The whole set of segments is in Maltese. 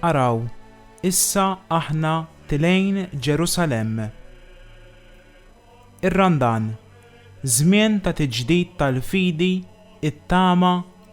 Araw, issa aħna tlejn Ġerusalemm. Ir-Randan, żmien ta' tiġdid tal-fidi, it-tama,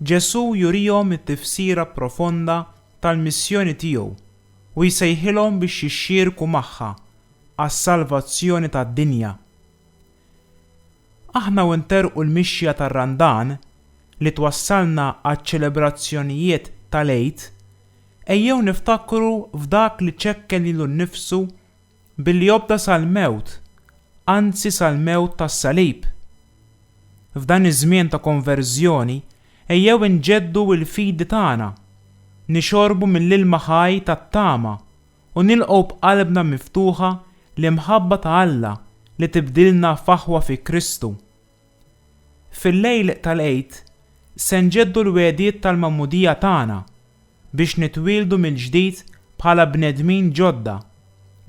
Ġesù jurihom it-tifsira profonda tal-missjoni tiegħu u jsejħilhom biex jixxierku magħha għas-salvazzjoni tad-dinja. Aħna u nterrqu l-mixja tar-Randan li twassalna għaċ-ċelebrazzjonijiet tal-Għid, ejjew niftakru f'dak li ċekken lilu nnifsu Billi jobda' sal-mewt, anzi sal-mewt tas-salib. F'dan iż-żmien ta' konverżjoni, ejjew inġeddu l-fidi tagħna, nixorbu mill-ilma ħaj tat-tama u nilqgħu b'qalbna miftuħa l-imħabba ta' Alla li tibdilna f'aħwa fi Kristu. Fil-lejl tal-Għid se nġeddu l-wegħdiet tal-Magħmudija tagħna biex nitwieldu mill-ġdid bħala bnedmin ġodda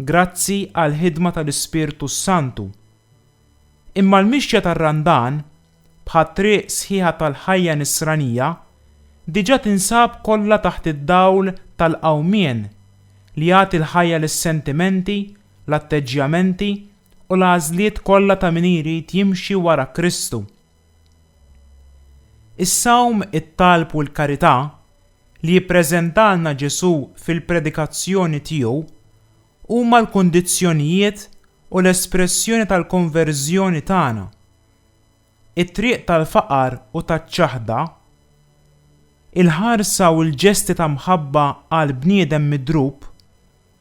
grazzi għall-ħidma tal-Ispirtu s-Santu. Imma l-mixja tar-Randan, bħat-triq sħiħa tal-ħajja Nisranija, diġà tinsab kollha taħt id-dawl tal-Qawmien li jagħti l-ħajja lis-sentimenti l-atteġġjamenti u l-għażliet kollha ta' min irid jimxi wara Kristu. Is-sawm, it-talb u l-karità li jippreżentalna Ġesù fil-predikazzjoni tiegħu huma l-kundizzjonijiet u l-espressjoni tal-konverżjoni tagħna. It-triq tal-faqar u taċ-ċaħda, il-ħarsa u l-ġesti ta' mħabba għal bniedem midrub,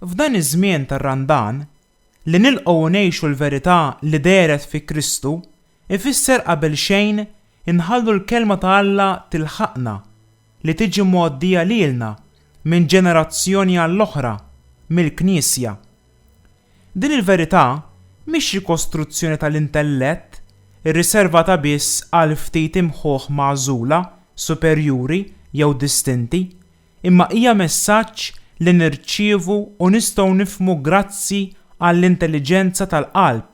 F'dan iż-żmien tar-Randan, li nilqgħu u ngħixu l-verità li dehret fi Kristu jfisser qabel xejn inħallu l-Kelma ta' Alla tilħaqna li tiġi mgħoddija lilna minn ġenerazzjoni għall-oħra mill-Knisja. Din il-verità mhix rikostruzzjoni tal-intellett irriservata biss għal ftit imħuħ magħżula, superjuri jew distinti, imma hija messaġġ li nirċievu u nistgħu nifhmu grazzi għall-intelliġenza tal-qalb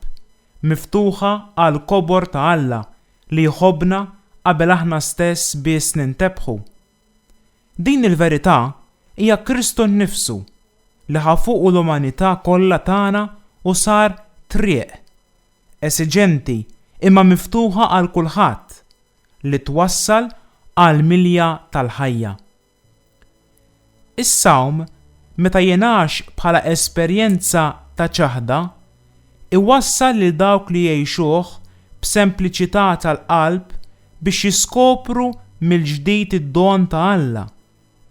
miftuħa għall-kobor ta' Alla li jħobbna qabel aħna stess biss nintebħu. Din il-verità hija Kristu nnifsu, li ħa fuqu l-umanità kollha tagħna u sar triq, esiġenti imma miftuħa għal kulħadd, li twassal għall-milja tal-ħajja. Is-sawm, meta jingħax bħala esperjenza ta' ċaħda, iwassal lil dawk li jgħixuh b'sempliċità tal-qalb biex jiskopru mill-ġdid id-don ta' Alla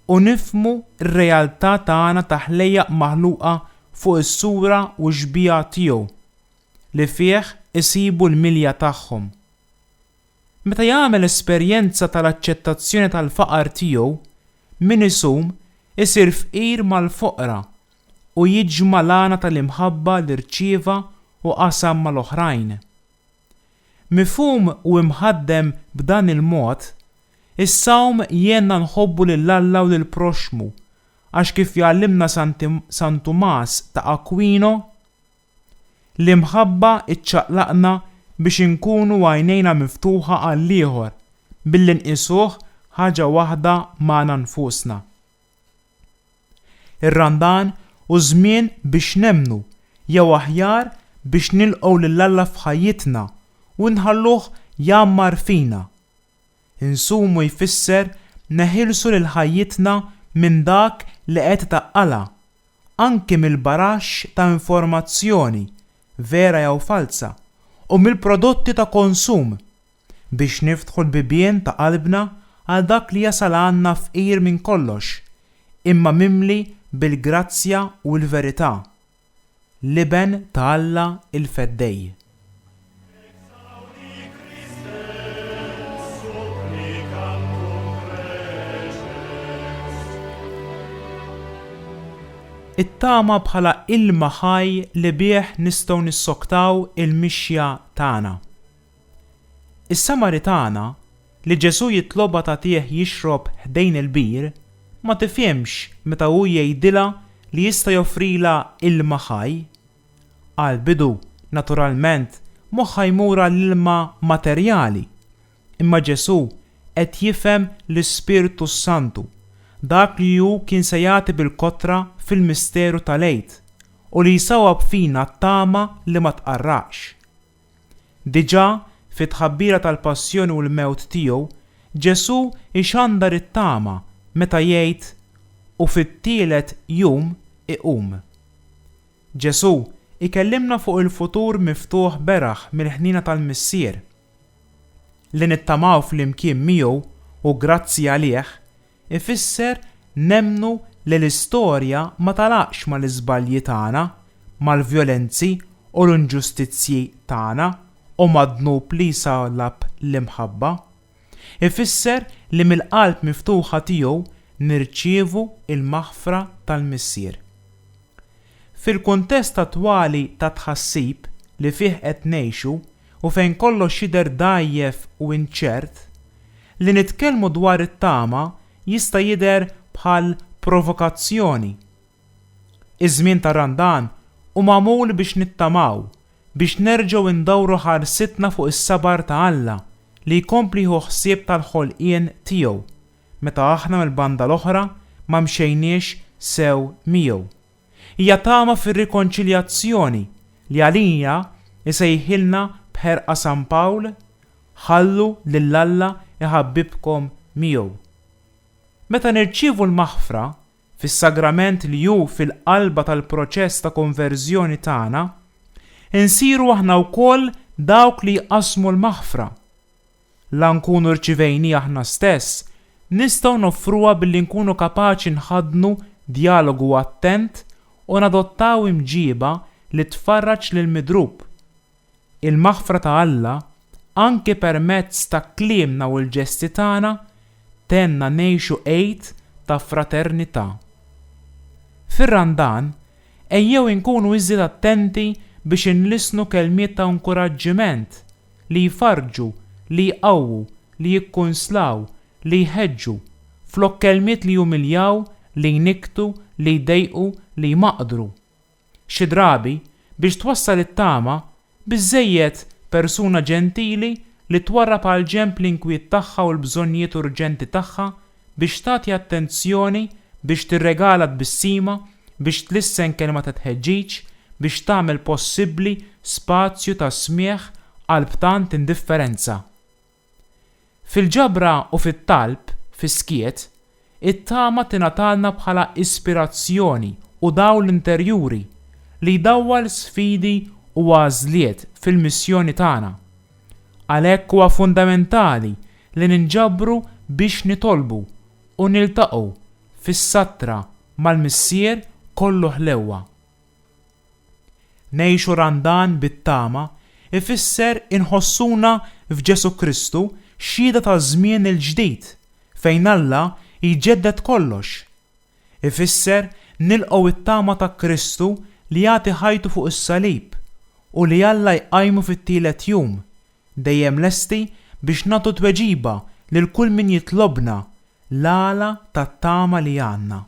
u nifhmu r-realtà tagħna ta' ħlejjaq maħluqa fuq is-sura u x-xbieha tiegħu li fih isibu l-milja tagħhom. Meta jagħmel esperjenza tal-aċċettazzjoni tal-faqar tiegħu, min isum isir fqir mal-foqra u jiġma' l-għana tal-imħabba li rċieva u qasam mal-oħrajn. Mifhum u imħaddem b'dan il-mod, is-sawm jgħinna nħobbu lil Alla u lill-proxxmu, għax kif jgħallimna San Tumas ta' Aquino, L-imħabba ċċaqlaqna biex inkunu għajnejna miftuħa għall-ieħor billi nqisuh ħaġa waħda magħna nfusna. Ir-Randan hu żmien biex nemmnu, jew aħjar biex nilqgħu lil Alla f'ħajjitna u nħalluh jgħammar fina. Insumu jfisser neħilsu lil ħajjitna minn dak li qed itaqqalha anki mill-baraxx ta' informazzjoni, vera jew falza, u mill-prodotti ta' konsum, biex niftħu l-bibien ta' qalbna għal dak li jasal għandna fqir minn kollox, imma mimli bil-grazzja u l-verità, l-Iben ta' Alla l-Feddej. It-tama bħala ilma ħaj li bih nistgħu nissoktaw il-mixja tagħna. Is-Samaritana, li Ġesù jitlobha tagħtih jixrob ħdejn il-bir, ma tifhimx meta hu jgħidilha li jista' joffrilha ilma ħaj. Għall-bidu, naturalment, moħħha jmur għall-ilma materjali. Imma Ġesù qed jifhem l-Ispirtu s-Santu, dak li hu kien se jagħti bil-kotra fil-misteru tal-Għid u li jsawwab fina t-tama li ma tqarraqx. Diġà fit-tħabbira tal-passjoni u l-mewt tiegħu, Ġesù jxandar it-tama meta jgħid, U fit-tielet jum iqum. Ġesù jkellimna fuq il-futur miftuħ beraħ mill-ħniena tal-Missier. Li nittamaw flimkien miegħu u grazzi għalih ifisser nemmnu li l-istorja ma tagħlaqx mal-iżbalji tagħna, mal-vjolenzi u l-inġustizzji tagħna u mad-dnub li jsallab l-imħabba. Ifisser li mill-qalb miftuħa tiegħu nirċievu l-maħfra tal-Missier. Fil-kuntest attwali ta' tħassib li fih qed ngħixu u fejn kollox jidher dgħajjef u inċert, li nitkellmu dwar it-tama jista' jidher bħal provokazzjoni Iż-żmien ta' Randan hu magħmul biex nittamaw, biex nerġgħu ndawru ħarsitna fuq is-sabar ta' Alla li jkompli jieħu ħsieb tal-ħolqien tiegħu meta aħna mill-banda l-oħra ma mxejniex sew miegħu. Hija tama fir-rikonċiljazzjoni li għalija jsejħilna b'ħerqa San Pawl, Ħallu lil Alla jħabbibkom miegħu. Meta nirċievu l-maħfra, fis-sagrament li hu fil-qalba tal-proċess ta' konverżjoni tagħna, insiru aħna wkoll dawk li jqassmu l-maħfra. La nkunu rċivejniha aħna stess, nistgħu noffruha billi nkunu kapaċi nħaddnu djalogu attent u nadottaw imġieba li tfarraġ lill-midrub. Il-maħfra ta' Alla, anke permezz ta' kliemna u l-ġesti tagħna, tgħinna ngħixu Għid ta' fraternità. Fir-Randan, ejjew inkunu iżjed attenti biex inlissnu kelmiet ta' inkuraġġiment, li jfarrġu, li jqawwu, li jikkunslaw, li jħeġġu, flok kelmiet li jumiljaw, li jnikktu, li jdejqu, li jmaqdru. Xi drabi, biex twassal it-tama, biżżejjed persuna ġentili li twarrab għall-ġenb l-inkwiet tagħha u l-bżonnijiet urġenti tagħha, biex tagħti attenzjoni, biex tirregala tbissima, biex tlissen kelma ta' tħeġġiġ, biex tagħmel possibbli spazju ta' smigħ qalb tant indifferenza. Fil-ġabra u fit-talb fis-skiet, it-tama tingħatalna bħala ispirazzjoni u dawl interjuri li jdawwal sfidi u għażliet fil-missjoni tagħna. Għalhekk huwa fundamentali li ninġabru biex nitolbu u niltaqgħu fis-sattra mal-Missier kollu ħlewwa. Ngħixu Randan bit-tama jfisser inħossuna f'Ġesù Kristu xhieda taż-żmien il-ġdid fejn Alla jġedded kollox. Ifisser nilqgħu t-tama ta' Kristu li jagħti ħajtu fuq is-salib u li Alla jqajmu fit-tielet jum, dejjem lesti biex nagħtu tweġiba lil kull min jitlobna l-għala tat-tama li għandna.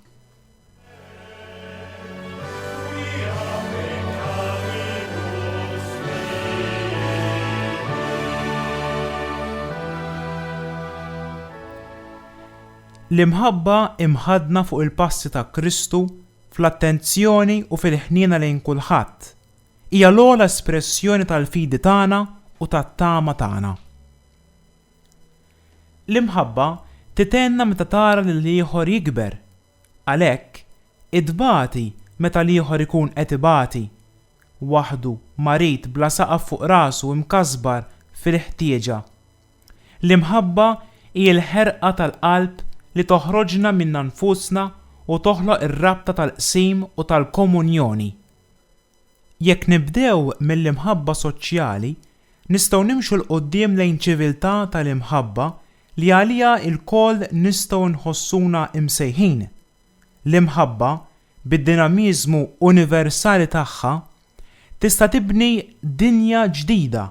L-imħabba imħaddna fuq il-passi ta' Kristu fl-attenzjoni u fil-ħniena lejn kulħadd, hija l-ogħla espressjoni tal-fidi tagħna u tat-tama tagħna. L-imħabba titgħenna meta tara lill-ieħor jikber. Għalhekk, itbati meta l-ieħor ikun qed ibati, waħdu, marid bla saqaf fuq rasu imkasbar fil-ħtieġa. L-imħabba hi l-ħerqa tal-qalb li toħroġna minna nfusna u toħloq ir-rabta tal-qsim u tal-komunjoni. Jekk nibdew mill-imħabba soċjali, nistgħu nimxu 'l quddiem lejn ċiviltà tal-imħabba li għaliha lkoll nistgħu nħossuna msejħin. L-imħabba, bid-dinamiżmu universali tagħha, tista' tibni dinja ġdida,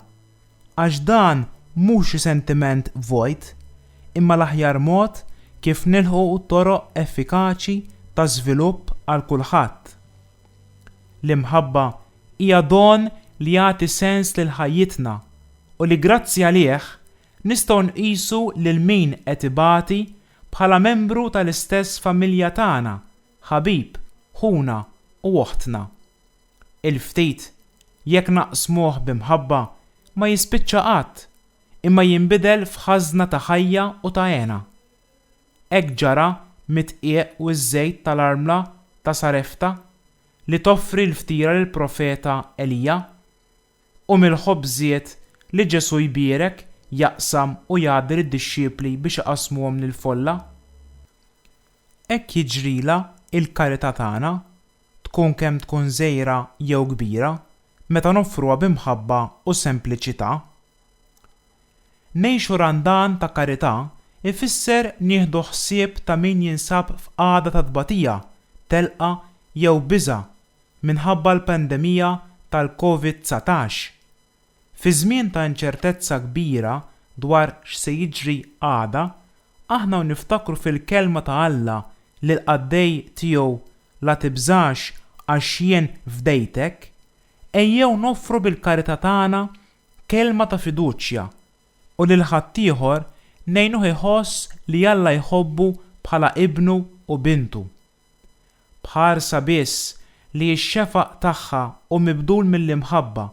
għax dan mhux xi sentiment vojt, imma l-aħjar mod kif nilħqu toroq effikaċi ta' żvilupp għal kulħadd. L-imħabba hija don li jagħti sens lil ħajjitna u li grazzi għalih nistgħu nqisu lil min qed ibati bħala membru tal-istess familja tagħna, ħabib, ħuna u oħtna. Il-ftit, jekk naqsmuh b'imħabba, ma jispiċċa qatt, imma jinbidel f'ħażna ta' ħajja u ta' hena. Hekk ġara mid-dqiq u ż-żejt tal-armla ta' Sarefta li toffri l-ftira lill-profeta Elija, u mill-ħobżiet li Ġesù jbierek, jaqsam u jagħti lid-dixxipli biex iqassmuhom lill-folla. Hekk jiġrilha l-karità tagħna, tkun kemm tkun żgħira jew kbira, meta noffruha bi mħabba u sempliċità. Ngħixu Randan ta' Karità ifisser nieħdu ħsieb ta' min jinsab f'qagħda ta' tbatija, telqa jew biża' minħabba l-pandemija tal-Covid dsatax. Fi żmien ta' inċertezza kbira dwar x'se jiġri għada, aħna u niftakru fil-Kelma ta' Alla li l-qaddej tiegħu La tibżax għax jien fdejtek, ejjew noffru bil-karità tagħna kelma ta' fiduċja u lil ħaddieħor ngħinuh iħoss li Alla jħobbu bħala ibnu u bintu. B'ħarsa biss li x-xefaq tagħha hu mibdul mill-imħabba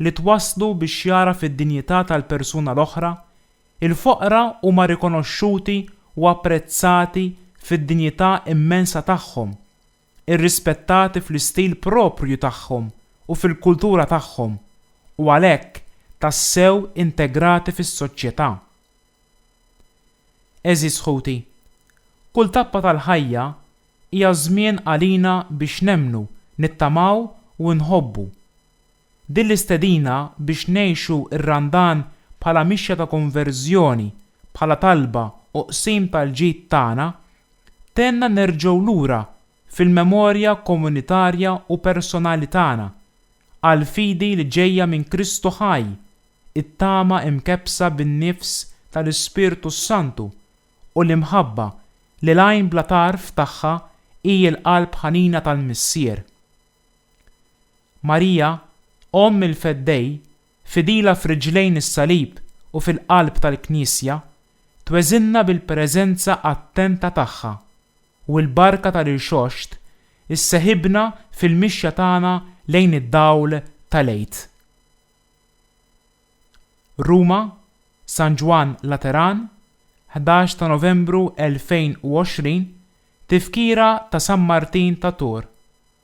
li twasslu biex jagħraf id-dinjità tal-persuna l-oħra, il-foqra huma rikonoxxuti u apprezzati fid-dinjità immensa tagħhom irrispettati fl-istil proprju tagħhom u fil-kultura tagħhom u għalhekk tassew integrati fis-soċjetà. Għeżież ħuti, kull tappa tal-ħajja hija żmien għalina biex nemmnu, nittamaw u nħobbu. Din l-istedina biex ngħixu r-Randan bħala mixja ta' konverżjoni, bħala talba u qsim tal-ġid tagħna, tgħinna nerġgħu lura fil-memorja komunitarja u personali tagħna, għall-fidi li ġejja minn Kristu ħaj, it-tama imkebbsa bin-nifs tal-Ispirtu s-Santu, u l-imħabba li l-għajn bla tarf tagħha hi l-qalb ħanina tal-Missier. Marija, Omm il-Feddej, fidila f'riġlejn is-Salib u fil-qalb tal-Knisja, tweżinna bil-preżenza attenta tagħha, u l-barka tal-Irxoxt isseħibna fil-mixja tagħna lejn id-dawl tal-Għid. Ruma, San Ġwann Lateran, ħdax ta' Novembru 2020, Tifkira ta' San Martin ta' Tours.